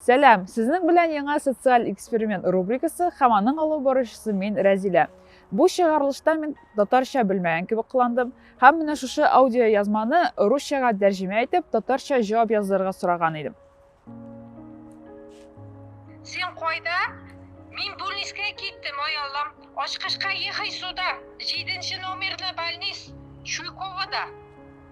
Сәлам! Сезнең белән яңа социаль эксперимент рубрикасы һәм аның алып баручысы мин Рәзилә. Бу чыгарылышта мин татарча белмәгән кебек кыландым һәм менә шушы аудиоязманы русчага тәрҗемә итеп, татарча җавап язырга сораган идем. Син кайда? Мин Бульнискә киттем, ай Аллам. Ачкычка ехай сюда. Җиденче номерлы больниц Чуйковода.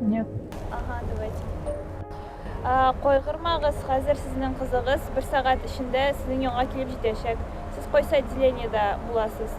Нет. Ага, давайте. Кайгырмагыз, хәзер сезнең кызыгыз бер сәгать эчендә сезнең янга килеп җитәчәк. Сез кайсы отделениедә буласыз?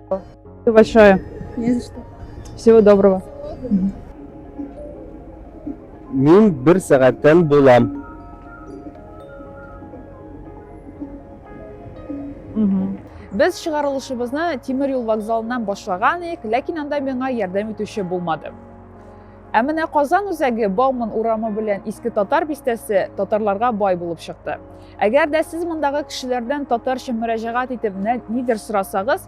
Спасибо большое. Не за что. Всего доброго. Мин бер сәгатьтән булам. Без чыгарылышыбызны тимер юл вокзалыннан башлаган идек, ләкин анда миңа ярдәм итүче булмады. Ә менә Казан үзәге Бауман урамы белән Иске Татар бистәсе татарларга бай булып чыкты. Әгәр дә сез мондагы кешеләрдән татарча мөрәҗәгать итеп нидер сорасагыз,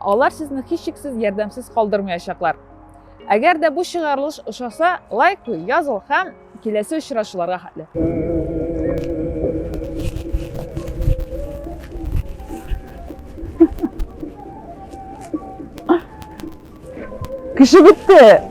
алар сезне һичшиксез ярдәмсез калдырмаячаклар. Әгәр дә бу чыгарылыш ошаса, лайк куй, языл һәм киләсе очрашуларга хәтле. Кеше бетте.